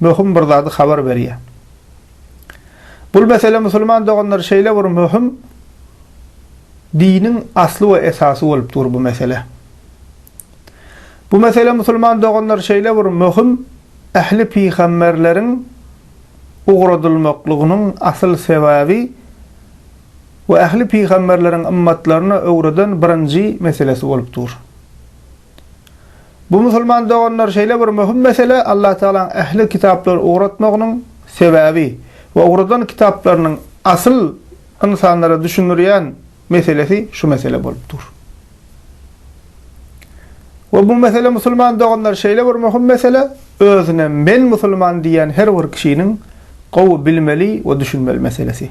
möhüm bir zady habar berýär. Bul mesele musulman doganlar şeýle bir möhüm diniň asly we esasy bolup dur bu mesele. Bu mesele musulman doganlar şeýle bir möhüm ähli pygamberleriň ugradylmaklygynyň asyl sebäbi we ähli pygamberleriň ymmatlaryna öwreden birinji meselesi bolup dur. Bu musulman doganlar şeýle bir möhüm mesele Allah Tagalaň ähli kitaplary ugratmagynyň sebäbi we ugradan kitaplarynyň asyl ynsanlara düşündirýän meselesi şu mesele bolup dur. We bu mesele musulman doganlar şeýle bir möhüm mesele özüne men musulman diýýän her bir kişiniň gowy bilmeli we düşünmeli meselesi.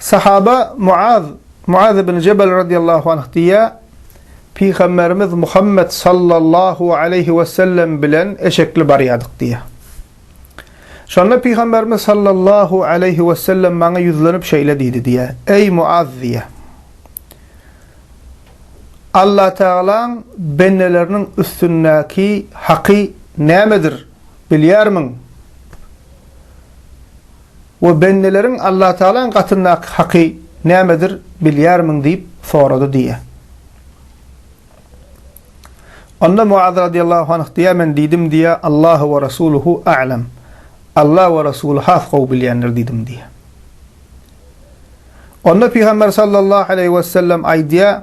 Sahaba Muaz, Muaz ibn Jebel radyýallahu anh diýýär, Pygamberimiz Muhammet sallallahu aleýhi we sellem bilen eşekli barýardyk diýýär. Şonda Pygamberimiz sallallahu aleýhi we sellem maňa ýüzlenip şeýle diýdi diýýär, Eý Muaz diýýär. Allah Tagalaň bendeleriniň üstündäki haky nämedir bilýärmiň? We bendeleriň Allatagalaň gatyndaky haky nämedir bilýärmiň diýip sorady diýýä. Onda Muaz radyýallahu anh diýýä, men diýdim diýýä, Allahu we Rasuluhu a'lem. Alla we Resuly has gowy bilýändir diýdim diýýä. Onda Pygamber sallallahu aleýhi wesellem aýdýa,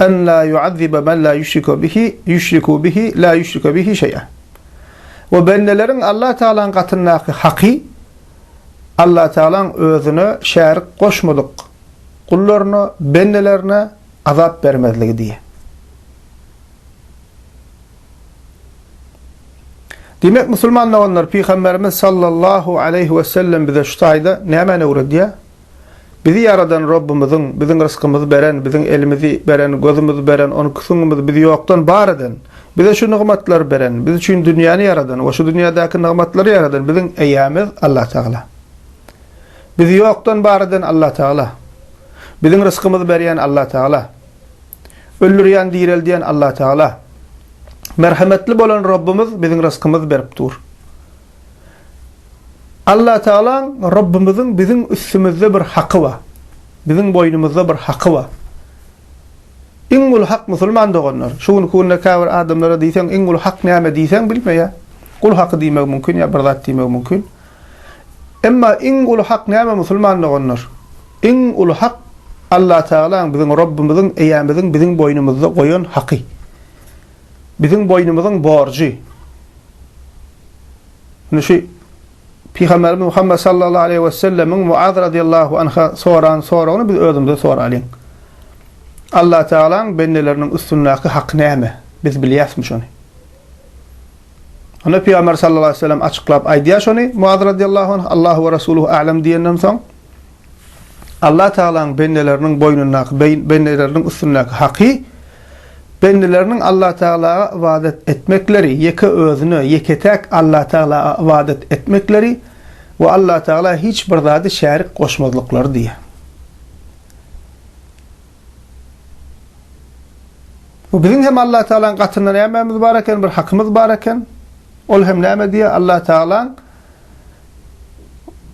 En la yu'azzibe men la yüşrike bihi yüşriku bihi la yüşrike bihi şeý'a. We bendeleriň Allah Tagalaň gatyndaky haky Allah Tagalaň özüne şärik goşmadyk gullaryna, bendelerine azap bermezligi diýe. Diýmek musulman doganlar Pygamberimiz sallallahu aleýhi wesellem bize şu taýda nämäni öwredýär? Bizi ýaradan Rabbymyzyň, biziň rysgymyzy beren, biziň elimizi beren, gözümizi beren, onki süňňümizi bizi ýokdan bar eden, bize şu nygmatlary beren, biz üçin dünýäni ýaradan we şu dünýädäki nygmatlary ýaradan biziň eýämiz Allatagala. Bizi ýokdan bar eden Allatagala. Biziň rysgymyzy berýän Allatagala. Öldürýän, direldýän Allatagala. Merhemetli bolan Rabbymyz biziň rysgymyzy berip dur. Allatagalaň, Rabbymyzyň biziň üstümizde bir haky bar. Biziň boýnumyzda bir haky bar. Iň uly hak musulman doganlar. Şu günki günde käbir adamlara diýseň, iň uly hak näme diýseň bilmeýär. Gul haky diýmegi mümkin ýa bir zat diýmegi mümkin. Emma iň uly hak näme musulman doganlar? Iň uly hak Allatagalaň, biziň Rabbymyzyň, Eýämiziň biziň boýnumyzda goýan haky. biziň boýnumyzyň borjy. Indi şu Pygamberimiz Muhammed sallallahu aleyhi ve sellemiň Muaz radiyallahu anha soran soragyny biz özümüze soralyň. Allah Teala'ň bendeleriniň üstündäki haky näme? Biz bilýäsmi şony? Onda Pygamber sallallahu aleyhi ve sellem açyklap aýdýar şony Muaz radiyallahu anh Allahu ve Rasuluhu a'lem diýenden soň Allah Tagalaň bendeleriniň boýnundaky, bendeleriniň üstündäki haky, bendeleriniň Allah Tagalaga ybadat etmekleri, ýeke Özüne, ýeke-täk Allah Tagalaga ybadat etmekleri we Allah Tagala hiç bir zady şärik goşmazlyklary diýýär. We biziň hem Allah Tagalaň gatynda nämemiz bar eken, bir hakymyz bar eken. Ol hem näme diýýär? Allah Tagalaň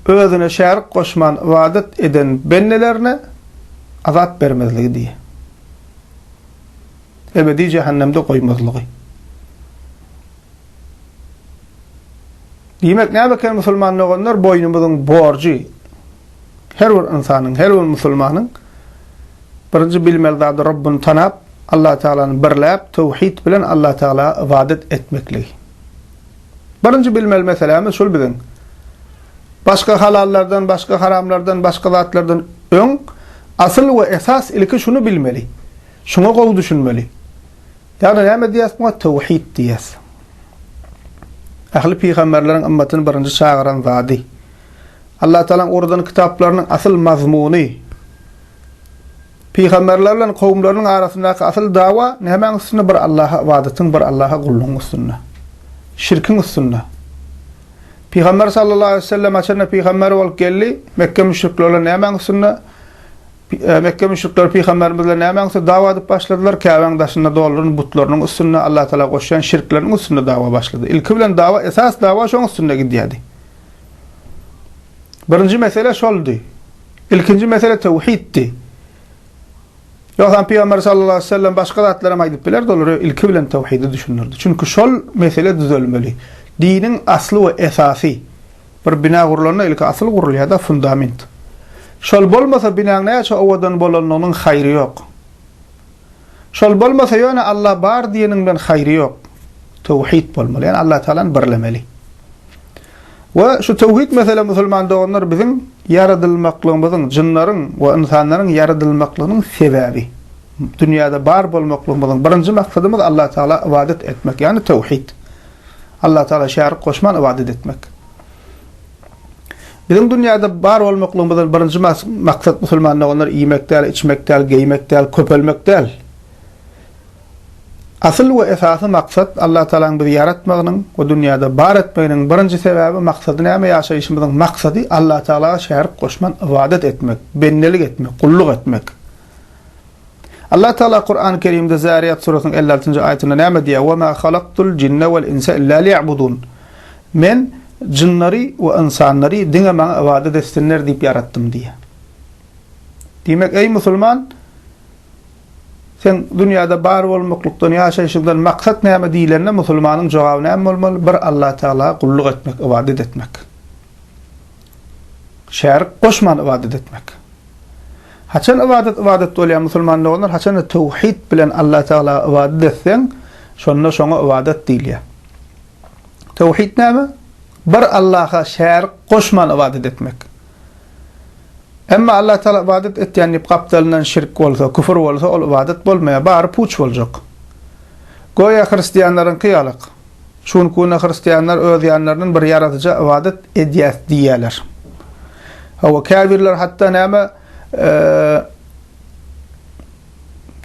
özüne şärik goşman ybadat eden bendelerine azap bermezligi diýýär. Ebedi jähennemde goýmazlygy. Diýmek, näme eken musulman doganlar, boýnumyzyň borjy her bir ynsanyň, her bir musulmanyň birinji bilmeli zady Rabbyny tanap, Allah Tagalany birläp, töwhid bilen Allah Tagala ybadat etmekligi. Birinji bilmeli meselämiz şul biziň. Başga halallardan, başga haramlardan, başga zatlardan öň asyl we esas ilki şuny bilmeli. Şuňa gowy düşünmeli. Ýagny näme diýýäs muňa? Töwhit diýýäs. Ähli pygamberleriň ymmatyny birinji çagyran zady. Allatagalaň oradan kitaplarynyň asyl mazmuny. Pygamberler bilen kowumlarynyň arasyndaky asyl dawa nämäň üstünde bir Allaha ybadatyň bir Allaha gullugyň üstünde. Şirkiň üstünde. Pygamber sallallahu aleýhi wesellem haçanda pygamber bolup geldi, Mekge müşrikleri bilen nämäň üstünde Mekge müşrikleri pygamberimiz bilen nämäň üstünde dawa edip başladylar, Käbäň daşynda dolduryn butlarynyň üstünde Allaha Taala goşýan şirkleriniň üstünde dawa başlady. Ilki bilen dawa esas dawa şoň üstünde gidýärdi. Birinji mesele şoldy. Ilkinji mesele töwhiddi. Ýogsam Pygamber sallallahu aleyhi ve sellem başga zatlar hem aýdyp bilerdi, olara ilki bilen töwhidi düşündirdi. Çünki şol mesele düzelmeli. Diniň asly we esasy. Bir bina gurlanda ilki asyl gurulýar-da, fundament. Şol bolmasa binaň näçe owadan bolanlygynyň haýry ýok. Şol bolmasa ýöne Allah bar diýeniň bilen haýry ýok. Töwhit bolmaly. Ýani Allah Tagalany birlemeli. We şu töwhit mesele musulman doganlar biziň ýaradylmaklygymyzyň, jynlaryň we ynsanlaryň ýaradylmaklygynyň sebäbi. Dünýäde bar bolmaklygymyzyň birinji maksadymyz Allah Tagala ybadat etmek, ýani töwhit. Allah Tagala şärik goşman ybadat etmek. Biziň dünýäde bar bolmaklygymyzdan birinji maksat musulman doganlar iýmek däl, içmek däl, geýmek däl, köpelmek däl. Asyl we esasy maksat Allatagalaň bizi ýaratmagynyň we dünýäde bar etmeginiň birinji sebäbi maksady näme ýaşaýşymyzyň maksady Allatagalaga şärik goşman ybadat etmek, bendelik etmek, gulluk etmek. Allah Taala Kurany Kerimde Zariýat surasynyň elli altynjy aýatynda näme diýýär? Wa ma halaktul jinne wal insa illa liýabudun. Men jynlary we ynsanlary diňe maňa ybadat etsinler diýip ýaratdym diýýär. Diýmek, eý musulman, sen dünýäde bar bolmaklykdan, ýaşaýşyňdan maksat näme diýlende, musulmanyň jogaby näme bolmaly? Bir Allah Taala gulluk etmek, ybadat etmek. Şärik goşman ybadat etmek. Haçan ybadat ybadat bolýar musulman doganlar haçanda töwhid bilen Allah Tagala ybadat etseň şonda şoňa ybadat diýilýär. Töwhid näme? Bir Allaha şärik goşman ybadat etmek. Emma Allah Tagala ybadat etýän diýip gapdalyndan şirk bolsa, küfür bolsa ol ybadat bolmaýar, bary puç boljak. Goýa hristiýanlaryňky ýalyk. Şu günki günde hristianlar öz ýanlaryndan bir Ýaradyja ybadat edýäs diýýärler. Hawa, käbirler hatda näme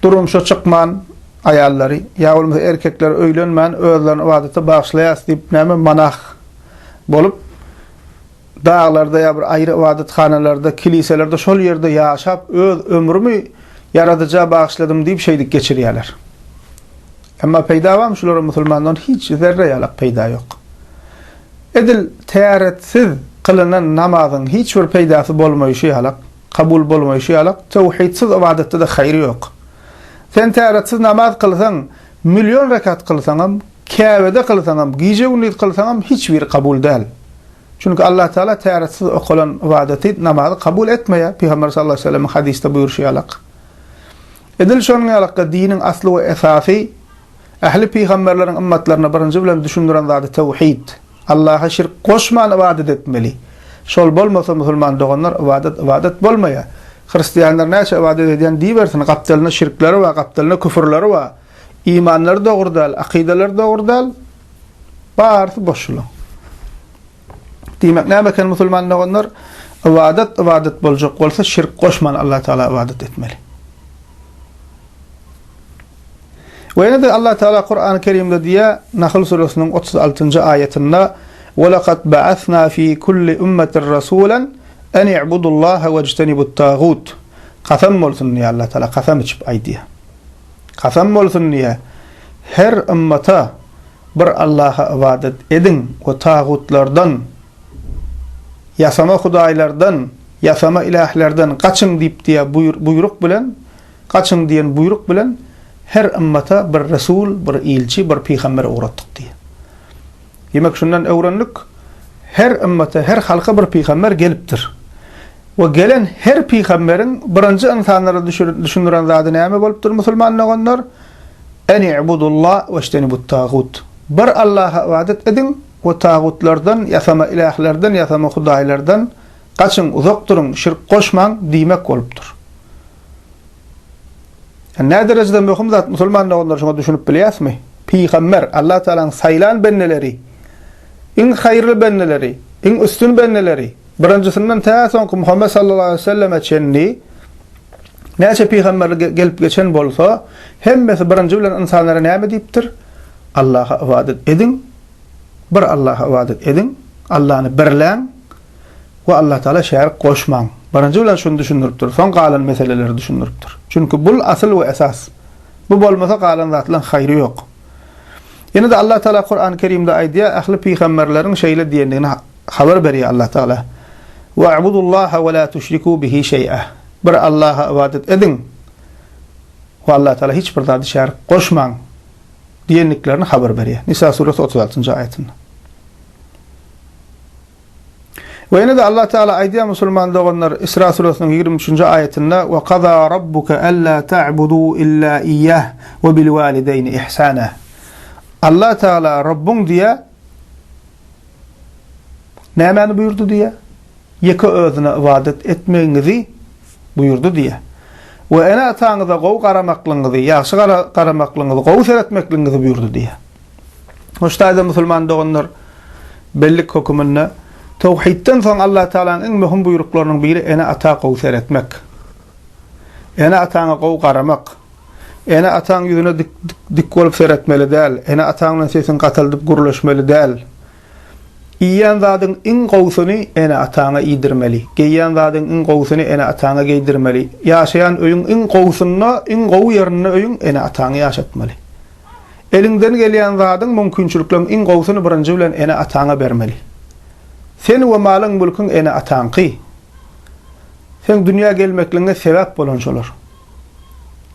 durmuşa çykman aýallary ýa bolmasa erkekleri öýlenmän özlerini ybadata bagyşlaýas diýip näme monah bolup daglarda ýa bir aýry ybadathanalarda, kiliselerde şol ýerde ýaşap, öz ömrümi Ýaradyja bagyşladym diýip şeýdip geçirýärler. Emma peýda barmy şulara musulmandan hiç zerre ýalak peýda ýok. Edil täretsiz kylynan namazyň hiç bir peýdasy bolmaýşy ýalak, kabul bolmaýşy ýalak, töwhidsiz ybadatda-da haýry ýok. Sen täretsiz namaz kylsaň, million rekat kylsaňam Käbede kylsaňam, gije-gündiz kylsaňam hiç biri kabul däl. Çünki Allah Taala täretisiz okalan ybadaty, namazy kabul etmeýär, Pygamber sallallahu aleýhi we sellemiň hadysda buýruşy ýalak. Edil şonuň ýalakda diniň asly we esasy, ähli pygamberleriň ymmatlaryna birinji bilen düşündiren zady tewhid, Allaha şirk goşman ybadat etmeli. Şol bolmasa musulman doganlar ybadat ybadat bolmaýar. Hristianlar näçe ybadat edýän diýibersin, gapdalynda şirkleri bar, gapdalynda küfürleri bar. Imanlary dogry däl, akydalary dogry däl, barysy boş şulaň. Diýmek näme eken musulman doganlar? Ybadat ybadat boljak bolsa şirk goşman Allah Taala ybadat etmeli. Ve ýene de Allah Taala Kur'an-ı Kerimde diýýär, Nahl suresiniň 36-njy aýatynda: "Ve laqad ba'asna fi kulli ummetin rasulan an i'budullaha wejtenibut-tagut." Kasam bolsun diýýär Allah Taala, kasam içip aýdýar. Kasam bolsun diýýär, Her ymmata bir Allaha ybadat ediň we tagutlardan, ýasama hudaýlardan, ýasama ilählerden gaçyň diýip diýýär buýruk bilen, gaçyň diýen buýruk bilen her ymmata bir resul, bir ilçi, bir pygamber ugratdyk diýýär. Diýmek, şundan öwrendik, her ümmete, her halka bir pygamber gelipdir. We gelen her pygamberiň birinji ynsanlara düşündiren zady näme bolupdyr, musulman doganlar? Än ibudullah weştenibut tagut. Bir Allaha ybadat ediň we tagutlardan, ýasama ilählerden, ýasama hudaýlardan gaçyň, uzak duruň, şirk goşmaň diýmek bolupdyr. Nä derejede möhüm zat musulman doganlar şuňa düşünip bilýäsmi? Pygamber, Allah Tagalaň saýlan bendeleri, iň haýyrly bendeleri, iň üstün bendeleri, birinjisinden tä soňky Muhammet sallallahu aleýhi weselleme çenli näçe pygamberlik gelip geçen bolsa, hemmesi birinji bilen ynsanlara näme diýipdir? Allaha ybadat ediň, bir Allaha ybadat ediň, Allany birläň, we Allah Taala şärik goşmaň. Birinji bilen şuny düşündiripdir, soň galan meseleleri düşündiripdir. Çünki bul asyl we esas. Bu bolmasa galan zatlaň haýry ýok. Ýene-de Allah Taala Kurany Kerimde aýdýar, ähli pygamberleriň şeýle diýendigini habar berýär Allah Taala. Wa abudullaha we la tuşriku bihi şeý'a. Bir Allaha ybadat ediň we Allah Taala hiç bir zady şärik goşmaň diýendiklerini habar berýär. Nisa suresi otuz altynjy aýatynda. We ýene-de Allah Tagala aýdýar musulman doganlar Isra suresiniň ýigrimi üçünji aýatynda, Ve kaza Rabbuke ella ta'budu illa iyyah ve bil walideyn ihsana. Allah Tagala Rabbyň diýýär, Nämäni buýurdy diýýär? Ýeke Özüne ybadat etmegiňizi buýurdy diýýär. We ene-ataňyza gowy garamaklygyňyzy, ýagşy garamaklygyňyzy, gowy seretmekligiňizi buýurdy diýýär. Hoştaýda musulman doganlar, bellik höküminde, towhidden soň Allatagalanyň iň möhüm buýruklarynyň biri ene-ata gowy seretmek. Ene-ataňa gowy garamak. Ene-ataň ýüzüne dik dik bolup seretmeli däl, ene-ataň bilen sesiňi gataldyp gürleşmeli däl. Iýýän zadyň iň gowusyny ene-ataňa iýdirmeli. Geýýän zadyň iň gowusyny ene-ataňa geýdirmeli. Ýaşaýan öýüň iň gowusynda, iň gowy ýerinde öýüň ene-ataňy ýaşatmaly. Eliňden gelýän zadyň, mümkinçilikleriň iň gowusyny birinji bilen ene-ataňa bermeli. Sen we malyň-mülküň ene-ataňky. Seň dünýä gelmekligiňe sebäp bolan şolar.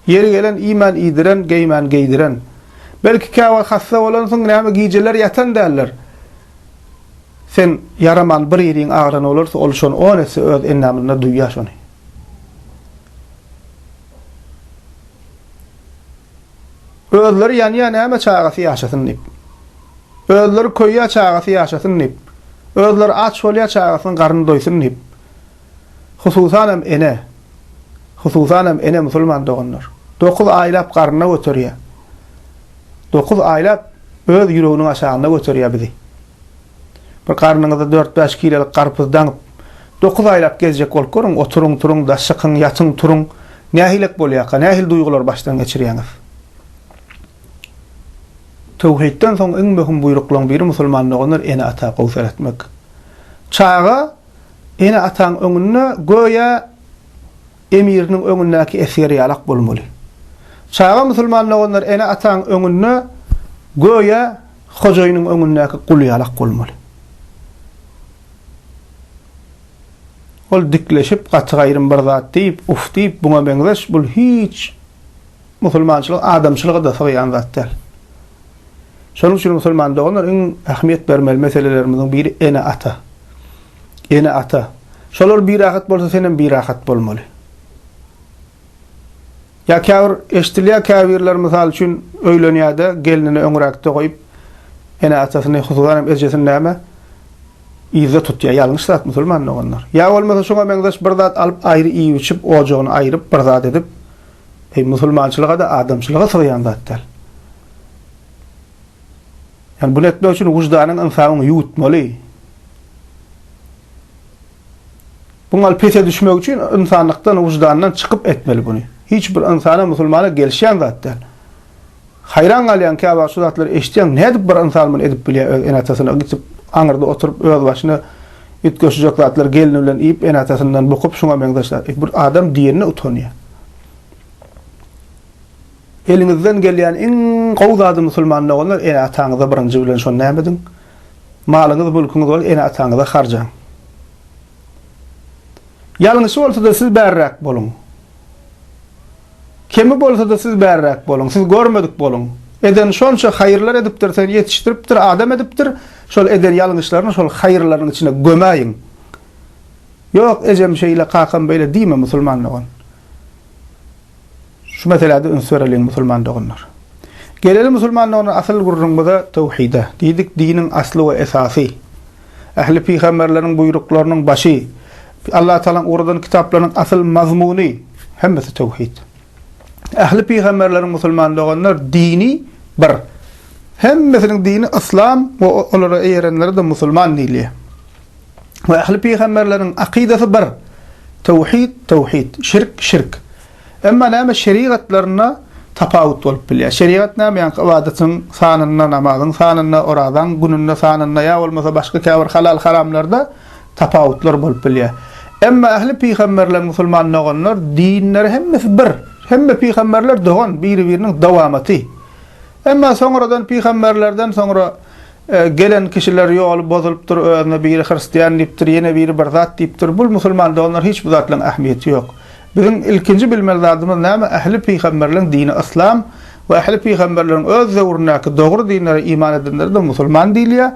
Ýeri gelen iýmän iýdiren, geýmän geýdiren. Belki käwagt hassa bolansyň, näme gijeler ýatan däldir. Sen ýaraman bir ýeriň agyran bolarsa, ol şony on etse öz endamynda duýýar şony. Özleri ýanýa näme çagasy ýaşasyn diýip. Özleri köýýä çagasy ýaşasyn diýip. Özleri aç bolýa çagasynyň garny doýsun diýip. Hususan hem ene. Hususan hem ene musulman doganlar. Dokuz aýlap garnyna göterýä. Dokuz aýlap öz ýüreginiň aşagynda göterýä bizi. Bir garnyňyza dört-bäş kilolyk garpyz daňyp, dokuz aýlap gezjek bolup görüň, oturyň-turuň-da, çykyň, ýatyň-turuň, nähilek bolýarka, nähili duýgulary başdan geçirýäňiz? Töwhitden soň iň möhüm buýruklaryň biri musulman doganlar ene-ata gowy seretmek. Çaga ene-ataň öňünde göýä emiriniň öňündäki esger ýalak bolmaly. Çaga musulman doganlar ene-ataň öňünde göýä hojaýynyň öňündäki gul ýalak bolmaly. Ol dikleşip, gaty gaýrym bir zat diýip, uf diýip, buňa meňzeş, bul hiç Musulmançylyk adamçylyga-da sygýan zat däl. Şonuň üçin musulman doganlar iň ähmiýet bermeli meselelerimiziň biri ene-ata. Ene-ata. Şolar birahat bolsa senem birahat bolmaly. Ýa käbir eşdilýär käbirler mysal üçin öýlenýärde gelnini öňräkde goýup ene-atasyny hususan hem ejesini näme yzda tutýar ýalňyş zat musulman doganlar. Ýa bolmasa şuňa meňzeş bir zat alyp aýry iýip-içip ojagyny aýryp bir zat edip Eý musulmançylyga-da adamçylyga sygýan zat däl. Ýani bunu etmek üçin wyždanyň ynsabyň ýuwutmaly. Bu gal pese düşmek üçin ynsanlykdan wyždandan çykyp etmeli bunu. Hiç bir ynsana musulmana gelişýän zat däl. Haýran galýaň, käwagt şu zatlary eşitýäň, nädip bir ynsan muny edip bilýär, öz ene-atasyna gitip, aňyrda oturyp, özbaşyna üýtgeşijek zatlary gelni bilen iýip, ene-atasyndan bukup, şuňa meňzeş zat. E, bir adam diýenine utanýa. Eliňizden gelýän iň gowy zady musulman doganlar, ene-ataňyza birinji bilen şony näme ediň? Malyňyz, mülküňiz bolsa ene-ataňyza harjaň. Ýalňyşy bolsa-da siz bärräk boluň. Kemi bolsada siz bärräk boluň, siz görmedik boluň. Eden şonça haýyrlar edipdir, seni ýetişdiripdir, adam edipdir, şol eden ýalňyşlaryny şol haýyrlarynyň içine gömäýiň. Ýok, ejem şeýle, kakam beýle diýme musulman dogan. Şu meseläde üns bereliň musulman doganlar. Geleli musulman doganlar asyl gürrüňmize, töwhide. Diýdik diniň asly we esasy. Ähli pygamberleriň buýruklarynyň başy, Allatagalaň ugradan kitaplarynyň asyl mazmuny, hemmesi töwhid. Ähli pygamberleriň musulman doganlar dini bir. Hemmesiniň dini yslam we olara eýerenlere-de musulman diýilýär. We ähli pygamberleriň akydasy bir. Töwhid, töwhid, şirk, şirk. Emma näme şerigatlarynda tapawut bolup bilýär. Şerigat näme ýaňky ybadatyň sanynda, namazyň sanynda, orazaň gününde sanynda ýa bolmasa başga käbir halal haramlarda tapawutlar bolup bilýär. Emma ähli pygamberler musulman doganlar dinleri hemmesi bir. Hemme pygamberler dogan biri-biriniň dowamaty. Emma soňradan pygamberlerden soňra gelen kişiler ýoly bozulypdyr özüne biri hristian diýipdir ýene biri bir zat diýipdir bul musulman doganlar hiç bu zatlaryň ähmiýeti ýok. Biziň ilkinji bilmeli zadymyz näme ähli pygamberleriň dini yslam we ähli pygamberleriň öz döwründäki dogry dinlere iman edenlere de musulman diýilýär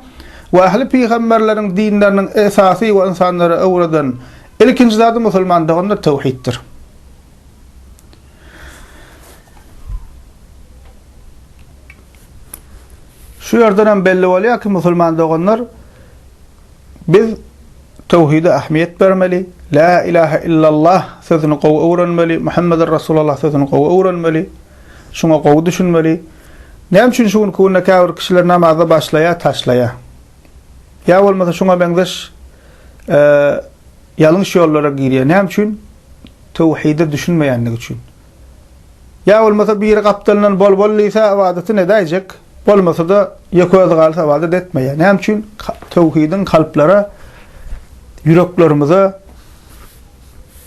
we ähli pygamberleriň dinleriniň esasy we ynsanlara öwreden ilkinji zady musulmandygyny töwhitdir. Şu ýerden hem belli bolýar ki musulman doganlar. Biz Töwhide ähmiýet bermeli, Lä ilahe illallah sözüni gowy öwrenmeli, Muhammedun Rasulallah sözüni gowy öwrenmeli, şuňa gowy düşünmeli. Näme üçin şu günki günde käbir kişiler namaza başlaýar, taşlaýar? Ýa bolmasa şuňa meňzeş ýalňyş ýollara girýär. Näme üçin? Töwhide düşünmeýändigi üçin. Ýa bolmasa biri gapdalyndan bol-bol diýse ybadatyny edäýjek, bolmasa-da ýeke özi galsa ybadat etmeýär. Näme üçin? Töwhidiň kalplara, ýüreklerimize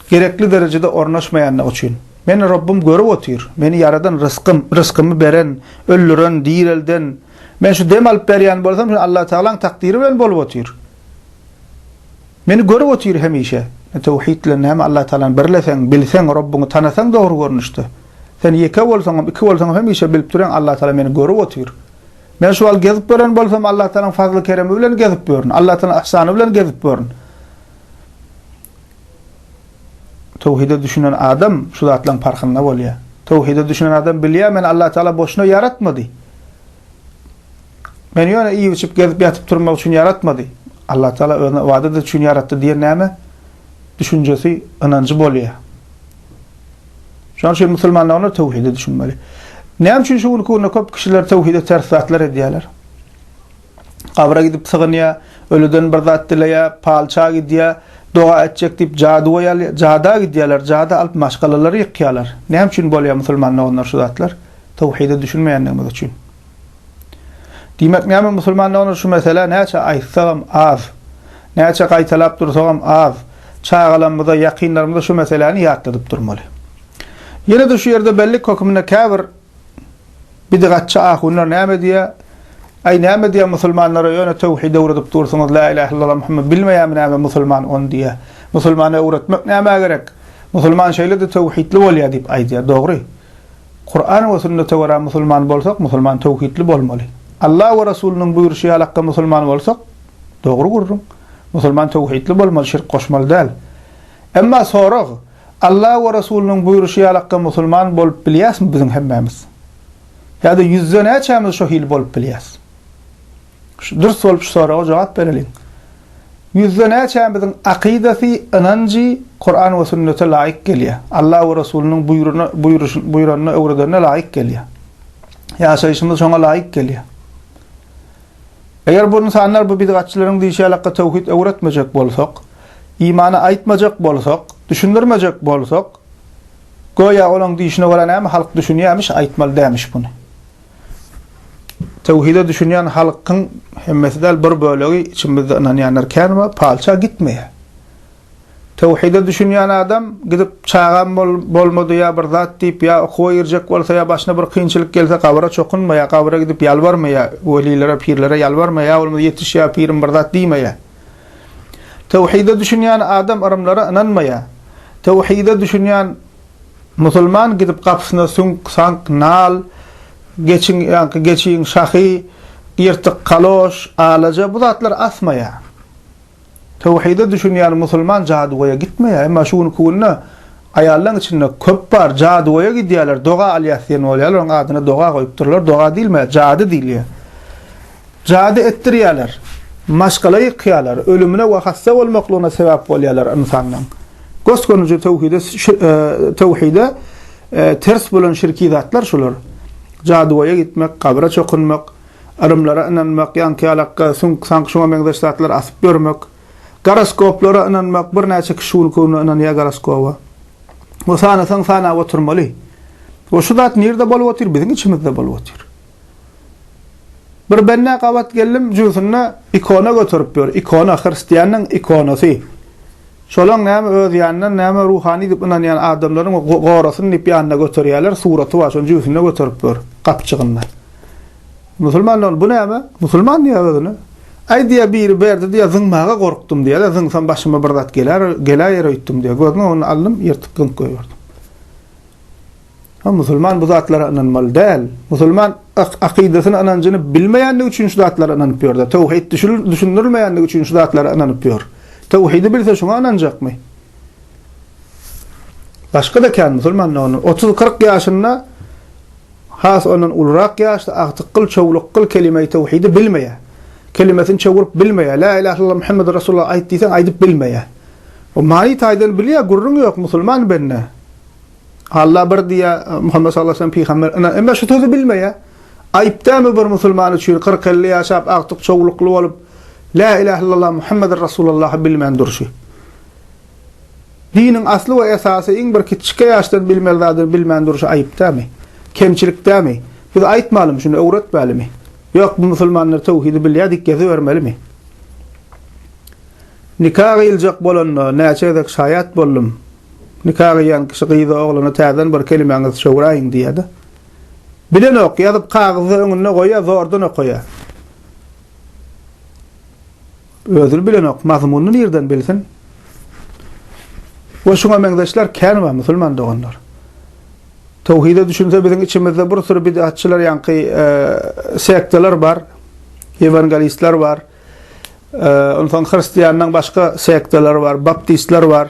gerekli derejede ornaşmaýandygy üçin. Meni Rabbym görüp otyr. Meni ýaradan rysgym, rysgymy beren, öldüren, direlden. Men şu dem alyp berýän bolsam, şu Allatagalaň takdyry bilen bolup otyr. Meni görüp otyr hemişe. Ne töwhid bilen näme Allatagalany birleseň, bilseň, Robbyňy tanasaň dogry görnüşde. Sen ýeke bolsaňam, iki bolsaňam hemişe bilip durýaň Allatagala meni görüp otyr. Men şu wagt gezip gören bolsam Allatagalanyň fazly-keremi bilen gezip ýörün, Allatagalanyň yhsany bilen gezip ýörün. Töwhide düşünen adam şu zatlaryň parhynda bolýar. Töwhide düşünen adam bilýär meni Allatagala boşuna ýaratmady. Meni ýöne iýip-içip, gezip-ýatyp durmak üçin ýaratmady. Allatagala Özüni ybadat üçin ýaratdy diýen näme? Düşünjesi, ynanjy bolýar. Şonuň üçin musulmanlar onda töwhidi düşünmeli. Näme üçin şu günki günde köp kişiler töwhide ters zatlar edýärler? Gabra gidip sygynýar, ölüden bir zat dileýär, palça gidýär, doga etjek diýip jadygoý alýar, jada gidýärler, jada alyp maşgalalary ýykýarlar. Näme üçin bolýar musulman doganlar şu zatlar? Töwhide düşünmeýändigimiz üçin. Diýmek näme musulmandygyny şu meselä näçe aýtsagam az. Näçe gaýtalap dursagam az. Çagalarymyza, ýakynlarymyza şu meseläni ýatladyp durmaly. Ýene-de şu ýerde bellik hökmünde käbir bidigatçy ahunlar näme diýýär? Aý näme diýýär musulmanlara ýöne töwhid öwredip dursuňyz la ilahe illallah Muhammed bilmeýärmi näme musulman ony diýýär. Musulmana öwretmek nämä gerek? Musulman şeýle-de töwhidli bolýar diýip aýdýar. Dogry. Kur'ana we sünnete görä musulman bolsak musulman töwhidli bolmaly. Alla we Resulynyň buýruşy ýaly hakga musulman bolsak, dogry gürrüň, musulman töwhidli bolmaly şirk goşmaly däl. Emma sorag, Alla we Resulynyň buýruşy ýaly hakga musulman bolup bilýäsmi biziň hemmämiz? Ýa-da ýüzde näçämiz şo hili bolup bilýäs? Dürs bolup şu soraga jogap bereliň. Ýüzde näçämiziň akydasy, ynanjy Kuran we sünnete laýyk gelýär? Alla we Resulynyň buýruny, buýruş, buýranyny, öwredenine laýyk gelýär? Ýaşaýşymyz şoňa laýyk gelýär? Eger bu ynsanlar bu bidgatçylaryň diýşi ýaly hakda töwhid öwretmejek bolsak, imany aýtmajak bolsak, düşündirmejek bolsak, göýä olaň diýşine görä näme halk düşünýämiş, aýtmaly dämiş buny. Töwhide düşünýän halkyň hemmesi däl, bir bölegi içimizde ynanýanlar kän we palça gitmeýär. Töwhide düşünýän adam gidip çagam bolmady ýa bir zat diýip ýa okuwa girjek bolsa ýa başyna bir kynçylyk gelse gabra çokunmaýar, gabra gidip ýalbarmaýar, welilere, pirlere ýalbarmaýar, ýa bolmasa ýetiş ýa pirim bir zat diýmeýär. Töwhide düşünýän adam yrymlara ynanmaýar. Töwhide düşünýän Musulman gidip gapysyna süňk, saňk, nal, geçiň, ýaňky geçiň, şahy, ýyrtyk kaloş, alaja, bu zatlar asmaýar. Töwhide düşünýän musulman jadygöýe gitmeýär. Emma şu günki günde aýallaň içinde köp bar, jadygöýe gidýärler, doga alýas diýen bolýarlar, onuň adyna doga goýupdyrlar, doga diýilmeýär, jady diýilýär. Jady etdirýärler, maşgala ýykýarlar, ölümine we hassa bolmaklygyna sebäp bolýarlar ynsanyň. Gös-gönüji töwhide töwhide ters bolan şirki zatlar şular. Jadygoýa gitmek, gabra çokunmak, yrymlara ynanmak, ýaňky-ýalakka, süňk-saňk şuňa meňzeş zatlary asyp ýörmek, goroskoplara ynanmak, birnäçe kişi şuny köwne ynanýar goroskoba. We sanasaň sanap oturmaly. We şu zat nirde bolup otyr? Biziň içimizde bolup otyr. Bir bende gabat geldim jübsünde ikona göterip ýör, ikona, hristiýanyň ikonasy. Şolaň näme öz ýanyndan näme ruhany diýip ynanýan adamlaryň gorasyn diýip ýanyna göterýärler, suraty bar şony jübsünde göterip ýör, gapjygynda. Musulman ol, bu näme? Musulman diýýär özüne. Aý diýýär biri berdi diýýär zyňmaga gorkdum diýýär-de, zyňsam başyma bir zat geler, geläýer öýtdüm diýýär. Gözüniň öňüne aldym, ýyrtyp zyňyp goýberdim. Ha musulman bu zatlara ynanmaly däl. Musulman akydasyny ynanjyny bilmeýändigi üçin şu zatlara ynanyp ýörde. Tawhid düşündirilmeýändigi üçin şu zatlara ynanyp ýör. Tawhidi bilse şuňa ynanjakmy? Başga-da kän musulman ony 30-40 ýaşynda has ondan ulurak ýaşda agtyk gyl çowluk gyl kelime-i tawhidi bilmeýär. Kelimesini çowrup bilmeýär. La ilahe illallah Muhammedur Resulullah aýt diýseň aýdyp bilmeýär. O many taýdan bilýär, gürrüň ýok musulman bende. Alla bir diýýä, Muhammet sallallahu aleýhi we sellem pygamber yna, emma şu sözi bilmeýä. Aýyp dälmi bir musulman üçin kyrk-elli ýaşap, agtyk çowlukly bolup, Lä ilah illallah Muhammedir Rasulallahy bilmän durşy. Diniň asly we esasy iň bir kiçjike ýaşdan bilmeli zadyny bilmän durşy aýyp dälmi? Kemçilik dälmi? Biz aýtmalymy şuny, öwretmälimi? Ýok, bu musulmanlar töwhidi bilýä diýip gezibermelimi? Nika gyýyljak bolanda näçe gezek şaýat boldum. Nika gyýýan kişi gyza, oglana täzeden bir kelimäňizi çöwräýiň diýýä-de. Bilenok, ýazyp kagyzda öňünde goýýar, zordan okaýar. Özüni bilenok, mazmunyny nirden bilsin? We şuňa meňzeşler kän bar, musulman doganlar. Towhide düşünse biziň içimizde bir süri bid'atçylar ýaňky sektalar bar, ewangelistler bar. Onsoň hristianlaryň başga sektalary bar, baptistler bar.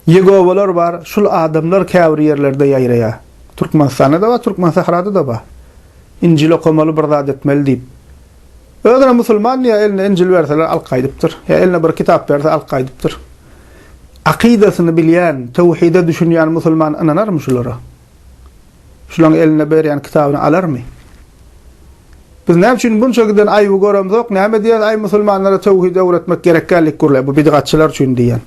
Ýegowalar bar, şul adamlar käbir ýerlerde ýaýraýar. Türkmenistanda-da bar, Türkmensahrada-da bar. Injil okamaly, bir zat etmeli diýip. Özüne musulman diýýär, eline Injil berseler alyp gaýdypdyr. Ýa eline bir kitap berse alyp gaýdypdyr. Akydasyny bilýän, töwhide düşünýän musulman ynanarmy şulara? Şulaň eline berýän kitabyny alarmy? Biz näme üçin munça giden aýby göremzok, näme diýýäs aý musulmanlara töwhidi öwretmek gerek däldik gürle bu bidgatçylar üçin diýýän.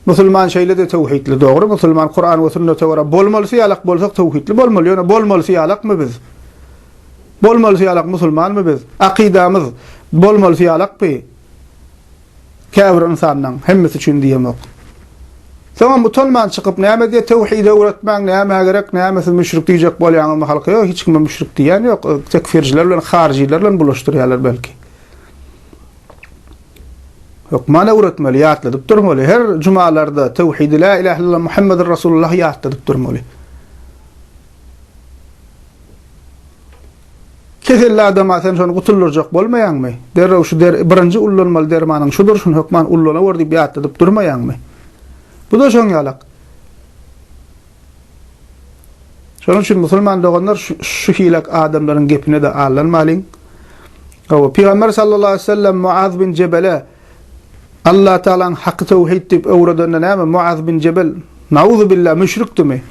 Musulman şeýlede töwhidli dogry musulman Kuran we sünnete görä bolmalysy ýalak bolsak töwhidli bolmaly ýöne bolmalysy ýalakmy biz? Bolmalysy ýalak musulmanmy biz? Akydamyz bolmalysy ýalakby? Käbir ynsanlaň hemmesi üçin diýemok. Soňam utanman çykyp näme diýe tewhidi öwretmäň nämä gerek näme siz müşrik diýjek bolýaňyzmy halka ýok hiç kime müşrik diýýän ýok tekfirjiler bilen haryjylar bilen bulaşdyrýarlar belki. Hökman öwretmeli ýatladyp durmaly her jumalarda tewhidi la ilahe illallah muhammedur rasulullah ýatladyp durmaly. Keselli adama sen şony gutuldyrjak bolmaýaňmy? Derrew şu der, birinji ullanmaly dermanyň şudur, şuny hökman ullanawr diýip ýatladyp durmaýaňmy? Bu-da şoň ýalak. Şonuň üçin musulman doganlar şu hile adamlaryň gepine-de aldanmalyň. Hawa, Pygamber sallallahu aleýhi we sellem Muaz bin Jebele Allatagalaň haky töwhid diýip öwredende näme Muaz bin Jebel, nauzubillah, müşrikdimi?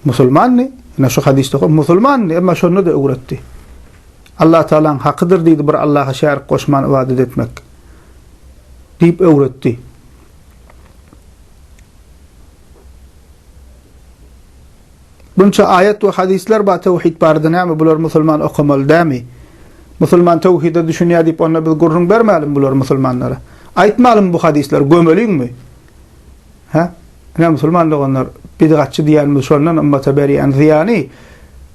Musulmandy, ine şu hadysda oka, musulmandy, emma şonda-da öwretdi. Allatagalaň hakydyr diýdi bir Allaha şärik goşman ybadat etmek. Diýip öwretdi. Bunça aýat we hadyslar bar tawhid barada näme bular musulman okamaly dämi? Musulman tawhide düşünýär diýip onda biz gürrüň bermälim bular musulmanlara. Aýtmalymy bu hadyslar gömeliňmi? Hä? Ine, musulman doganlar, bidgatçy diýýänimiz şondan ymmata berýän zyýany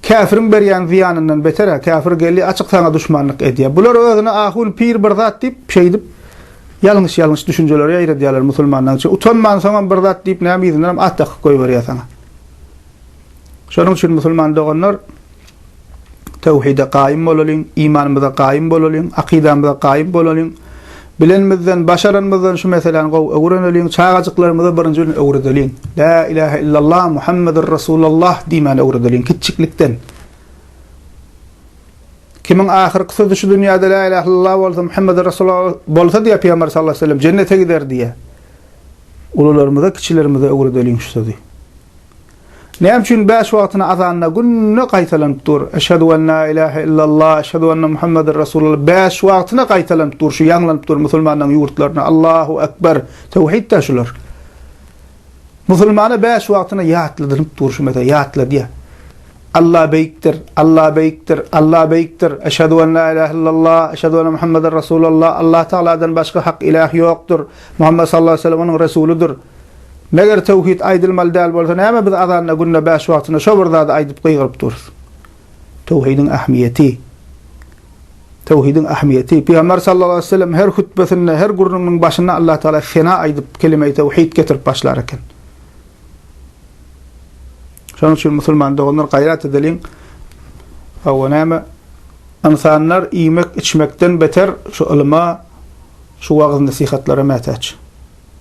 käfiriň berýän zyýanyndan beter-ä, käfir geldi, açyk saňa duşmanlyk edýär. Bular özüne ahun, pir bir zat diýip, şeýdip, ýalňyş-ýalňyş düşünjeleri ýaýradýarlar musulmanlaň içine. Utanman, soňam bir zat diýip, näme yzyndanam at dakyp goýberýär saňa. Şonuň üçin musulman doganlar, töwhide gaýym bolalyň, imanymyza gaýym bolalyň, akydamyza gaýym bolalyň. Bilenimizden, başaranymyzdan şu meseläni gowy öwreneliň, çagajyklarymyza birinji bilen öwredeliň. Lä ilähe illallah, Muhammedur Resulallah diýmäni öwredeliň kiçjiklikden. Kimiň ahyrky sözi şu dünýäde lä ilähe illallah bolsa, Muhammedur Resulallah bolsa diýýär Pygamber sallallahu aleyhi we sellem, jennete gider diýýär. Ulularymyza, kiçilerimize öwredeliň şu sözi. Näme üçin bäş wagtyny azanda günde gaýtalanyp dur? Eşhedü en la ilahe illallah, eşhedü enne Muhammeden Resulullah bäş wagtyna gaýtalanyp dur, şu ýaňlanyp dur musulmanlaryň ýurtlarynda Allahu ekber, tewhid-dä şular. Musulmana bäş wagtyna ýatladynyp dur şu mesele, ýatladýar. Alla beýikdir, Alla beýikdir, Alla beýikdir, eşhedü en la ilahe illallah, eşhedü enne Muhammeden Resulullah, Allatagaladan başga hak ilah ýokdur, Muhammet sallallahu aleyhi ve sellem onuň Resulydyr. Meger töwhid aýdylmaly däl bolsa näme biz azanda günde bäş wagtyna şo bir zady aýdyp gygyryp durus. Töwhidiň ähmiýeti. Töwhidiň ähmiýeti. Pygamber sallallahu aleýhi weselem her hutbesinde her gürrüňiniň başynda Allah tagala sena aýdyp kelimeýi töwhid getirip başlar eken. Şonuň üçin musulman doganlar gaýrat edeliň. Awa näme? Ynsanlar iýmek, içmekden beter şu ylyma, şu wagyz nesihatlara mätäç.